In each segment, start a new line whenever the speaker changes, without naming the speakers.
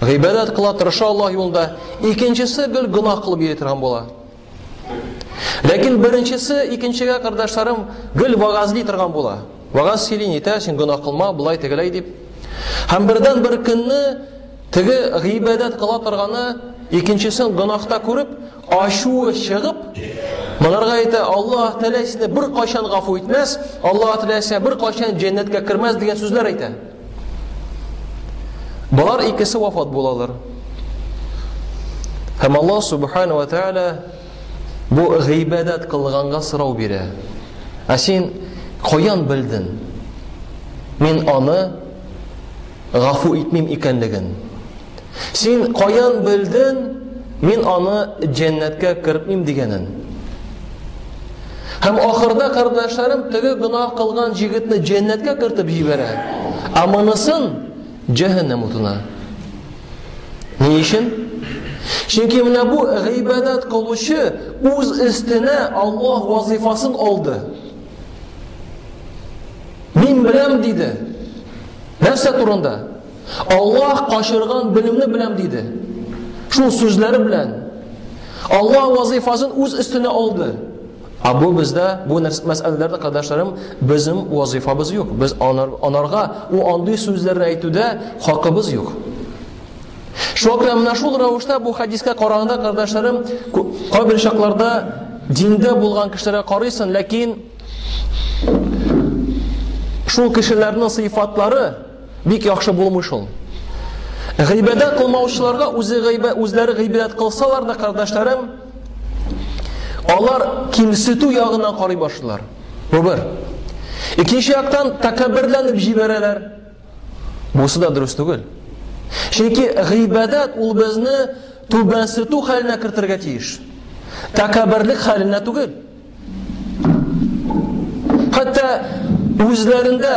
Гыйбадәт кыла, тырыша Аллаһ юлында. Икенчесе гел гына кылып йөри торган була. Ләкин беренчесе икенчегә кардәшләрем гел вагазли торган була. Вагаз сөйли, нитә, син гына кылма, былай тегеләй дип. Һәм бердән бер көнне теге гыйбадәт кыла торганы икенчесен гынахта күреп, ачуы чыгып, Монарга әйтә, Аллаһ Тәгалә сине бер кайчан гафу итмәс, Аллаһ Тәгалә сине бер кайчан җәннәткә кермәс дигән сүзләр әйтә. Болар икесе вафат булалар. Һәм Аллаһ Субхану ва Тааля бу гыйбадәт кылганга сорау бирә. Ә син каян белдең? Мин аны гафу итмим икәнлеген. Син каян белдең, мин аны җәннәткә кертмим дигәнен? Һәм ахырда кардәшләрем теге гына кылган җигетне җәннәткә кертеп җибәрә, ә монысын җәһәннәм утына. Ни өчен? Чөнки менә бу гыйбадәт кылучы үз өстенә Аллаһ вазифасын алды. Мин беләм диде. Нәрсә турында? Аллаһ качырган белемне беләм диде. Шул сүзләре белән Аллаһ вазифасын үз өстенә алды. Ә бу бездә бу мәсьәләләрдә кадәшләрем безнең вазифабыз юк. Без анар, анарга у андый сүзләрне әйтүдә хакыбыз юк. Шуңа менә шул рәвештә бу хадискә караганда кадәшләрем кайбер чакларда диндә булган кешеләргә карыйсың, ләкин шул кешеләрнең сыйфатлары Бик яхшы булмый шул. Гыйбадәт кылмаучыларга үзе гыйбә, үзләре гыйбадәт кылсалар да, кардәшләрем, алар кимсетү ягына карый башлыйлар. Бу бер. Икенче яктан тәкәбберләнеп җибәрәләр. Бусы да дөрес түгел. Чөнки гыйбадәт ул безне түбәнсетү хәленә кертергә тиеш. Тәкәбберлек хәленә түгел. Хәтта үзләрендә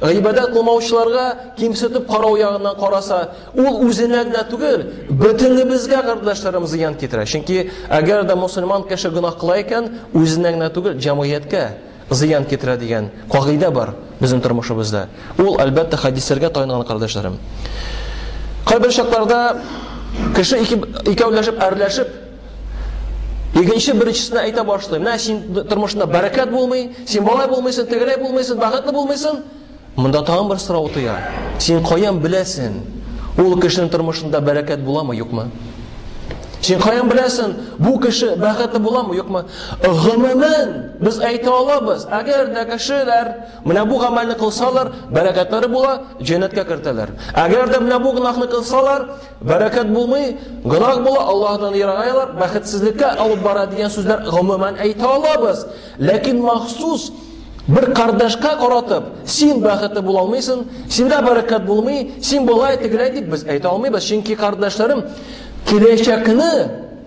Гыйбадәт кылмаучыларга кимсетеп карау ягыннан караса, ул үзенә генә түгел, бөтенебезгә кардәшләрем зыян китерә. Чөнки әгәр дә мусульман кеше гөнаһ кыла икән, үзенә генә түгел, җәмгыятькә зыян китерә дигән кагыйдә бар безнең тормышыбызда. Ул, әлбәттә, хәдисләргә таянылган кардәшләрем. Кайбер чакларда кеше икәүләшеп, әрләшеп Икенче беренчесенә әйтә башлый. Менә син тормышында бәрәкәт булмый, син болай булмыйсың, тегеләй булмыйсың, бәхетле булмыйсың. Монда тагын бер сорау туя. Син каян беләсең? Ул кешенең тормышында бәрәкәт буламы, юкмы? Син каян беләсең, бу кеше бәхетле буламы, юкмы? Гомумән, без әйтә алабыз, әгәр дә кешеләр менә бу гамәлне кылсалар, бәрәкәтләре була, җәннәткә кертәләр. Әгәр дә менә бу гөнаһны кылсалар, Бәрәкәт булмый, гынаг була, Аллаһдан ерагайлар, бәхетсезлеккә алып бара дигән сүзләр гомумән әйтә алабыз. Ләкин махсус бер кардәшкә каратып, син бәхетле була алмыйсың, синдә бәрәкәт булмый, син болай тегеләй дип без әйтә алмыйбыз, чөнки кардәшләрем киләчәкне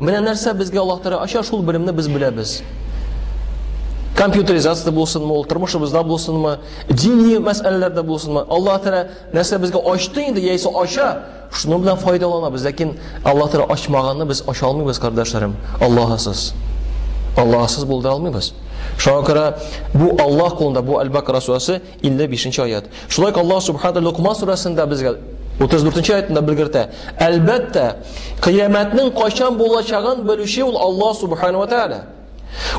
Менә нәрсә безгә Аллаһ Тәгалә ача, шул белемне без беләбез. Компьютеризация булсынмы, ул тормышыбызда булсынмы, дини мәсьәләләрдә булсынмы, Аллаһ Тәгалә нәрсә безгә ачты инде, яисә ача, шуның белән файдаланабыз. Ләкин Аллаһ Тәгалә ачмаганны без ача алмыйбыз, кардәшләрем. Аллаһысыз. Аллаһысыз булдыра алмыйбыз. Шуңа күрә бу Аллаһ кулында, бу Әл-Бакра сүрәсе 50 бишенче аят. Шулай ук Аллаһ Субхану Лукман сурәсендә безгә 34 нче аятында белгертә. Әлбәттә, кыямәтнең кайчан булачагын белүче ул Аллаһ Субхану ва Тааля.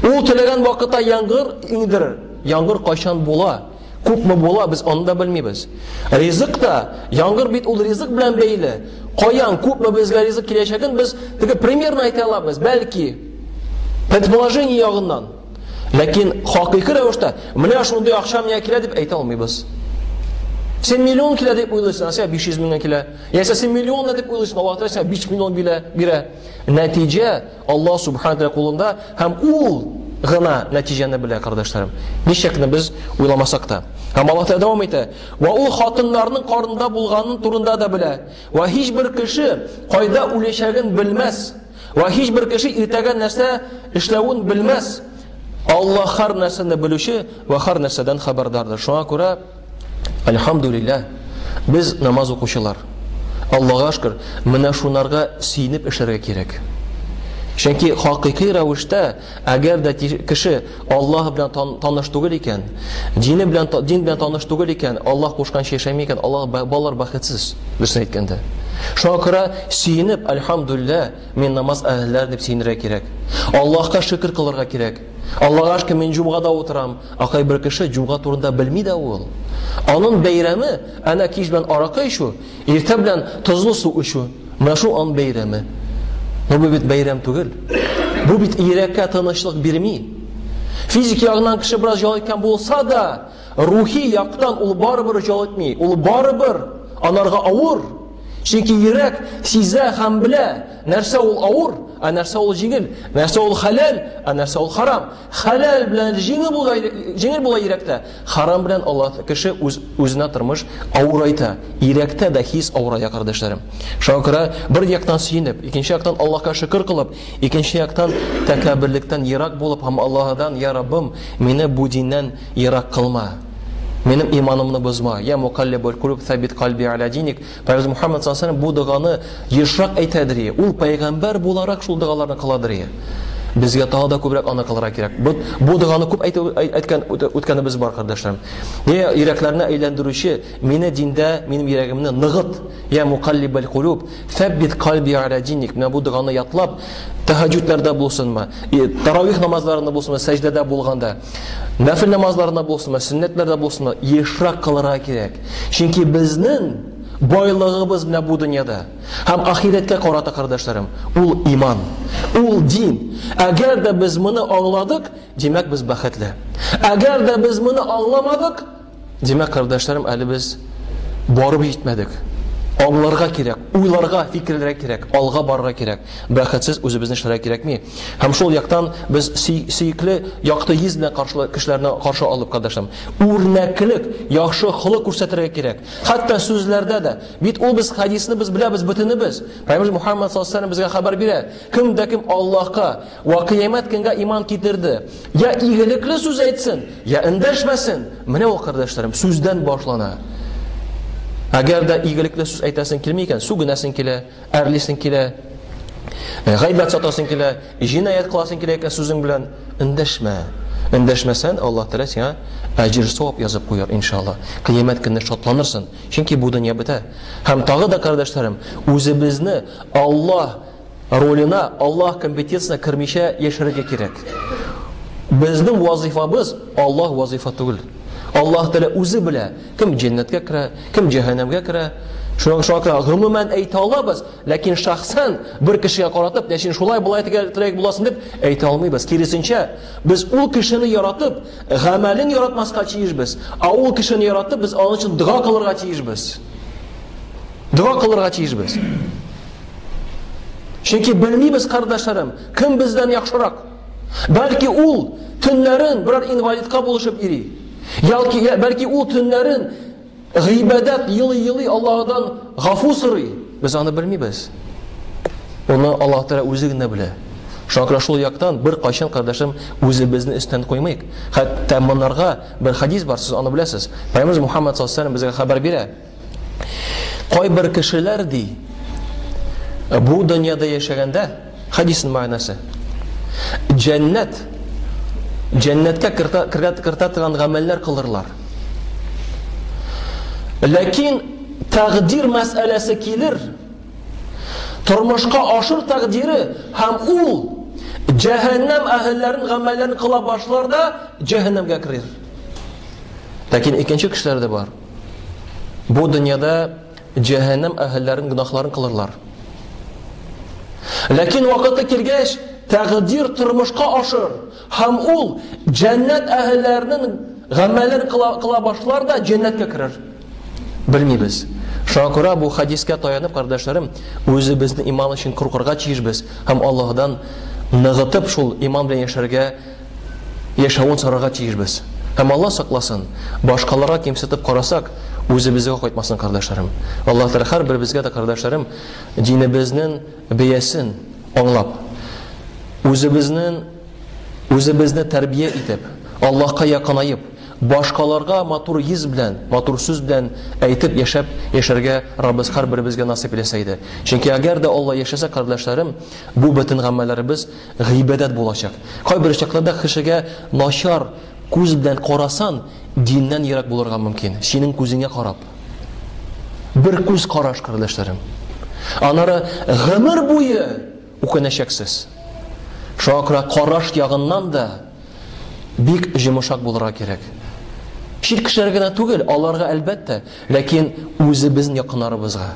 Ул теләгән вакытта яңгыр иңдерер. Яңгыр кайчан була, күпме була, без аны да белмибез. Ризык та, яңгыр бит ул ризык белән бәйле. Каян күпме безгә ризык киләчәген без теге примерно әйтә алабыз, бәлки предположение ягыннан. Ләкин хакыйкы рәвештә менә шундый акча миңа килә дип әйтә алмыйбыз. Син миллион килә дип уйлыйсың, сиңа 500 меңгә килә. Яисә син миллион дип уйлыйсың, Аллаһ Тәгалә сиңа 5 миллион бирә, бирә. Нәтиҗә Аллаһ Субхану Тәгалә кулында һәм ул гына нәтиҗәне белә, кардәшләрем. Ничек кенә без уйламасак та. Һәм Аллаһ Тәгалә дәвам итә. Ва ул хатыннарның карында булганын турында да белә. Ва һичбер кеше кайда үләчәген белмәс. Вә һичбер кеше иртәгә нәрсә эшләвен белмәс. Алла хар нәрсәне белүче вә хар нәрсәдән хәбәрдардыр. Шуңа күрә, альхамдулилла, без намаз укучылар. Аллага шкер, менә шунарга сөенеп эшләргә кирәк. Чөнки хакыйкый рәвештә Әгәр дә кеше Аллаһ белән таныш түгел икән, дине белән дин белән таныш түгел икән, Аллаһ кушканча яшәми икән, Аллаһ балалар бәхетсез, дөресен әйткәндә. Шуңа күрә сөенеп, альхамдулилла, мин намаз әһелләре дип сөенергә кирәк. Аллаһка шөкер кылырга кирәк. Аллаһга шөкер, мин җумгада утырам. Акай бер кеше җумга турында белми дә ул. Аның бәйрәме, әнә кич белән аракы ичү, Иртә белән тозлы су эчү, менә шул ан бәйрәме. Но бу бит бәйрәм түгел. Бу бит йөрәккә тынычлык бирми. Физик ягыннан кеше бераз җал иткән булса да, рухи яктан ул барыбер җал итми. Ул барыбер анарга авыр. Чөнки йөрәк сизә һәм белә, нәрсә ул авыр, ә нәрсә ул җиңел, нәрсә ул хәләл, ә нәрсә ул харам. Хәләл белән җиңел була, җиңел була йөрәктә, Харам белән алат кеше үз үзенә тормыш авырайта, ирәктә дә хис авырая, кардәшләрем. Шуңа күрә бер яктан сөенеп, икенче яктан Аллаһка шөкер кылып, икенче яктан тәкәбберлектән ерак булып һәм Аллаһыдан, Я Раббым, мине бу диннән ерак кылма. Минем иманымны бозма. Я мукаллибуль кулүб сәббит кальби аля диник. Пәйгамбәребез Мухаммад саллаллаһу бу доганы ешрак әйтәдер ие. Ул пәйгамбәр буларак шул догаларны кыладыр ие. Безгә тагы да күбрәк аны кылырга кирәк. Бу, бу доганы күп әйтү әйткән үткәнебез бар, кардәшләрем. Я йөрәкләрне әйләндерүче, мине диндә, минем йөрәгемне ныгыт. Я мукаллибал кулуб, фәббит кальби аля диник. Менә бу доганы ятлап, тәһаҗҗүдләрдә булсынмы, таравих намазларында булсынмы, сәҗдәдә булганда, Нәфил намазларында булсынмы, сөннәтләрдә булсынмы, ешрак кылырга кирәк. Чөнки безнең байлыгыбыз менә бу дөньяда. Һәм ахирәткә карата, кардәшләрем, ул иман, ул дин. Әгәр дә без моны аңладык, димәк без бәхетле. Әгәр дә без моны аңламадык, Димәк, кардәшләрем, әле без барып җитмәдек. Аңларга кирәк, уйларга, фикерләргә кирәк, алга барырга кирәк. Бәхетсез үзебезне эшләргә кирәкми. Һәм шул яктан без сөекле якты йөз белән каршылы кешеләрне каршы алып, кардәшләрем, үрнәклек, яхшы холык күрсәтергә кирәк. Хәтта сүзләрдә дә. Бит ул без хадисны без беләбез бөтенебез. Пәйгамбер Мухаммад саллаллаһу алейһи ва саллям безгә хәбәр бирә. Кем дә кем Аллаһка Вә кыямәт көнгә иман китерде. Я игелекле сүз әйтсен, я эндәшмәсен. Менә ул, кардәшләрем, сүздән башлана. Әгәр дә игелекле сүз әйтәсең килми икән, сүгенәсең килә, әрлисең килә, э, гайбәт сатасың килә, җинаять кыласың килә икән сүзең белән, эндәшмә. Эндәшмәсән, Аллаһ Тәгалә сиңа әҗер савап язып куяр, иншалла. Кыямәт көнне шатланырсың, чөнки бу дөнья бетә. Һәм тагы да, кардәшләрем, үзебезне Аллаһ ролена Аллаһ компетенциясенә кермичә яшәргә кирәк. Безнең вазифабыз Аллаһ вазифа түгел. Аллаһ Тәгалә үзе белә, кем җәннәткә керә, кем җәһәннәмгә керә. Шуңа шуңа күрә гомумән әйтә алабыз, ләкин шәхсән бер кешегә каратып, нәшин шулай болай тирәк буласын дип әйтә алмыйбыз. Киресенчә, без ул кешене яратып, гамәлен яратмаска тиешбез. Ә ул кешене яратып, без аның өчен дога кылырга тиешбез. Дога кылырга тиешбез. Чөнки белмибез, кардәшләрем, кем бездән яхшырак. Бәлки ул төннәрен берәр инвалидка булышып йөри. Ялки, бәлки ул төннәрен гыйбадәт елый-елый Аллаһыдан гафу сорый. Без аны белмибез. Оны Аллаһ Тәгалә үзе генә белә. Шуңа күрә шул яктан бер кайчан кардәшем үзебезне өстен куймыйк. Хәтта монарга бер хадис бар, сез аны беләсез. Пәйгамбер Мухаммад саллаллаһу алейһи ва саллям безгә хәбәр бирә. Кайбер кешеләр ди, бу дөньяда яшәгәндә, хадисның мәгънәсе, җәннәт, җәннәткә кертә торган гамәлләр кылырлар. Ләкин тәкъдир мәсьәләсе килер, тормышка ашыр тәкъдире һәм ул җәһәннәм әһелләрен гамәлләрен кыла башлар да җәһәннәмгә керер. Ләкин икенче кешеләр дә бар. Бу дөньяда җәһәннәм әһелләрен гөнаһларын кылырлар. Ләкин вакыты килгәч, тәкъдир тормышка ашыр һәм ул җәннәт әһелләренең гамәлен кыла, кыла башлар да җәннәткә керер. Белмибез. Шуңа күрә бу хадискә таянып, кардәшләрем, үзебезне иман өчен куркырга тиешбез һәм Аллаһдан ныгытып шул иман белән яшәргә яшәвен сорарга тиешбез. Һәм Алла сакласын, башкаларга кимсетеп карасак, үзебезгә кайтмасын, кардәшләрем. Алла Тәгалә һәрберебезгә дә, кардәшләрем, динебезнең бәясен аңлап, үзебезнең үзебезне тәрбия итеп, Аллаһка якынаеп, башкаларга матур йөз белән, матур сүз белән әйтеп яшәп яшәргә Раббыз һәрберебезгә насыйп итсә иде. Чөнки әгәр дә Алла яшәсә, кардәшләрем, бу бөтен гамәлләребез Гыйбадәт булачак. Кайбер очракларда кешегә начар күз белән карасан, диннән ерак булырга мөмкин. Синең күзеңә карап. Бер күз караш, кардәшләрем. Аннары гомер буе үкенәчәксез. Шуңа күрә караш ягыннан да бик җомышак булырга кирәк. Чит кешеләргә генә түгел, аларга әлбәттә, ләкин үзебезнең якыннарыбызга.